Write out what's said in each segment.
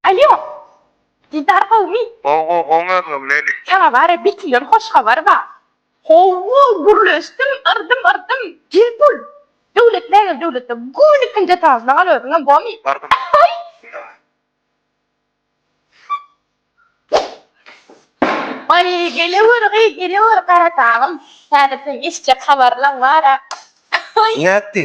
Alýo! Didar gowmy? Gowy, gowy özüm, Leli. Saňa bara bir killer hoş habar bar. Howwo, gürleşdim, yrdym, yrdym. Gel bul! Döwlet nägel döwletde, göni ikinji etažda gal özüňem, gowymy? Bardym. Aý! Aý, gelewer, gyz, gelewer, Garadagym. Häzir seň eşitjek habarlaň bar-a. Aý! Nätdi?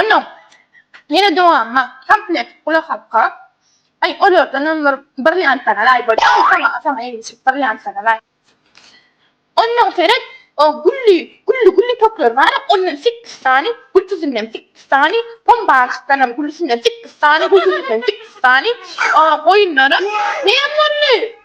Onuň ýene dowamyna komplekt gulak asga, aý olardanam bir brilliantlanalaý bolýa, oň saňa saňa ilişip brilliantlanalaý. Onnoň seret, o gülli gülli gülli toklar bar-a, ondan sekkiz sany, gültüzinden sekkiz sany, pombarykdanam güllüsinden sekkiz sany, gültüzinden sekkiz sany, o goýunlara näme boldy?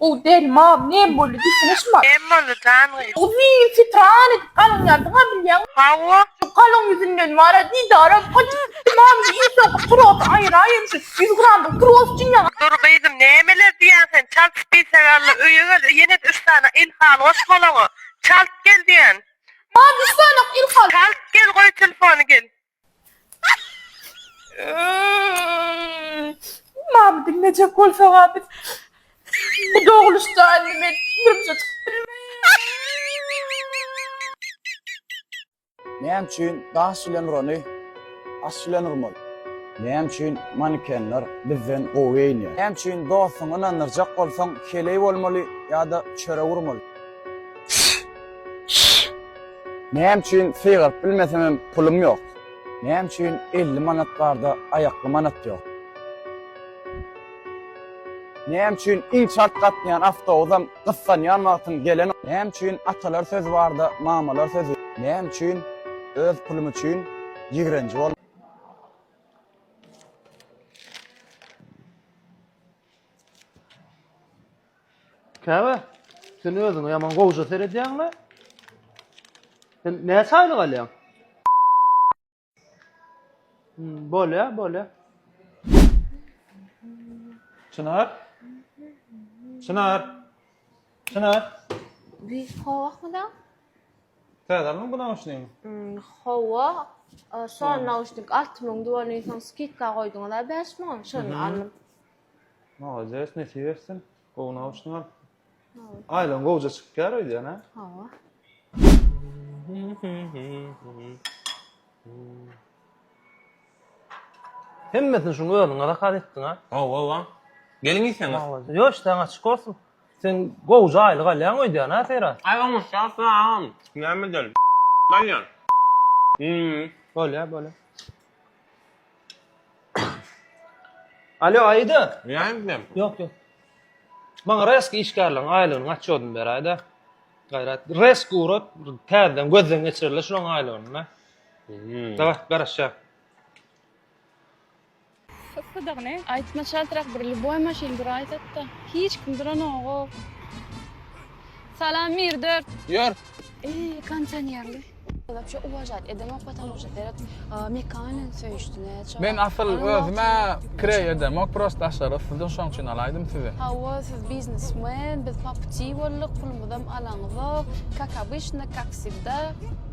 Gowy däl mam näme boldy diýsene şumat. Näme boldy jan gyz. Uzyn fitran edip galynýardyňa bilýäňmi. Hawa. Şu galyň ýüzünden wara didarym gaçyp gitdi mam şu iň soňky trosy aýyraýyn şu ýüz gramlyk tros üçin ýaňa. Dur gyzym nämeler diýýäň sen çalt bitegalla öýe gel ýenede üç sany ilhalgoş golaňa çalt gel diýýän. Mam üç sany ilhalgoş. Çalt gel goý telefony gel. Mama diňlejek bolsaňa biz bu dogluş jaýyny men durmuşa çykyp Näme üçin daş bilen urany aş bilen urmaly? Näme üçin manekenler bizden gowy geýinýär? Näme üçin dostuňy ynandyrjak bolsaň, heleý bolmaly ýa-da çörek urmaly? Näme üçin sygaryp bilmesemem pulum ýok. Näme üçin 50 manat barda aýakly manat ýok. Näme üçin iň çalt gatnaýan awtobusam gyssanýan wagtyň gelen. Näme üçin atalar sözi barda mamalar sözi. Näme üçin öz pulum üçin ýigrenji. Käbä, sen özüňe ýaman gowja seredýäň-le. Sen näçe aýlyk alýaň? Hmm, bolýa, bolýa. Çynar? Çynar? Çynar? Biz kowakmyda? Täze aldyň bu nauşnigiňi? Hawa, şo nauşnik alty müňdi welin soň skidka goýduňyz-a bäş müň, şony aldym. Molodes, nesip etsin. Gowy nauşnik al. Aýlygyň gowja çykýar öýdýän-ä? Hawa. Hemmesini şuň özüňe zakaz etdiň-a? Hawa-wa. Geliň iýseňiz. Ýo, işdäň açyk bolsun. Sen gowja aýlyk alýaň öýdýän a Seýran. Aý oňuşýar salam. Näme edeli alýan. Hmm. Bolýa bolýa. Alýo Aýda. Ýaýyň bilen. Ýok ýok. Maňa reski işgärleriň aýlygynyň otçodyny beräýdä. Gaýrat. Resk urat täzeden gözden geçireli şulaň aýlygyny. Hmm. Daway garaşýa. Yssydygyny. Aýtma çaltrak bir lüboý maşyn duraýsatda. Hiç kim duranogoo. Salam Mir dört. Ýör. Eý kondisionerli. Wapşe uwažat edenok potamuşa seret Mika bilen söýüşdi näçe. Men asyl özüme kireý edenok prosta daşary yssydan şoň üçin alaýdym sizi. Hawa siz biznesmen biz paputi bolduk pulumyzam alaňyzok kak abyşna kak wsegda.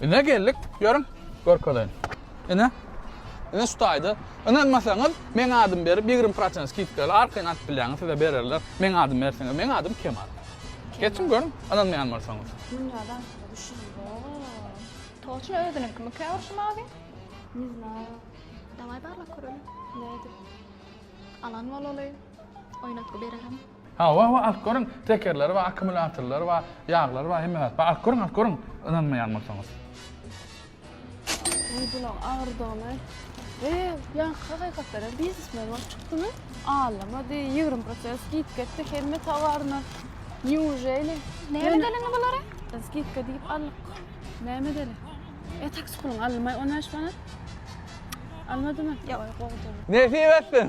Ine geldik. Görün. Görkezeýin. Ine. Ine şu taýda. Ynanmasaňyz, meň adym berip 20% skidka ile arkaýyn alyp bilýäňiz, size bererler. Meň adym berseňiz, meň adym Kemal. Geçiň görün, ynanmaýan bolsaňyz. Dünýäden Toçna özüniň kimi kä urşum abi? Ne znаю. Daway barlak köreli. Ne edip? Alan bolaly. Oýnatgy bererin. Hawa hawa alyp görüň tekerleri bar akkumulýatorlary bar ýaglary bar hemme zat bar alyp görüň alyp görüň ynanmaýan bolsaňyz. Meý bulaň agyrdygyny we ýaňky hakykatlara biznesmen bolup çykdymy allamady ýigrimi prosent skidka etdi hemme tawaryna nýujeli Näme dälini bulary? skidka diýip alyp näme däli e taksi puluny aldymaý on bäş manat almadymy Ýok. Gowy däl. Nesip etsin.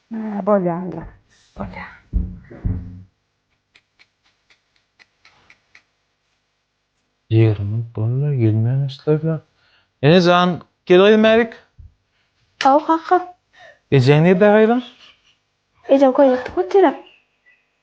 Hä, bolýar onda. Bolýar. Ýerimi bolýar, gelmän islerler. Ene jan, gel gyzym bärik. Haw, kaka. Ejeň nirde gyzym? Ejem köýnekde otyr-a.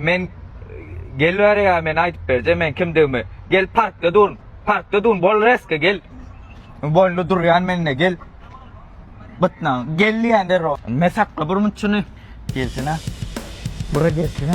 Men gel bäri ya men aydyp berje men kimdigimi. Gel parkda dur. Parkda dur. Bol reske gel. Bollu duryan menne gel. Bıtnan. Gel diyen der o. Men sakla bir mutçunu. Gelsene. Bura gelsene.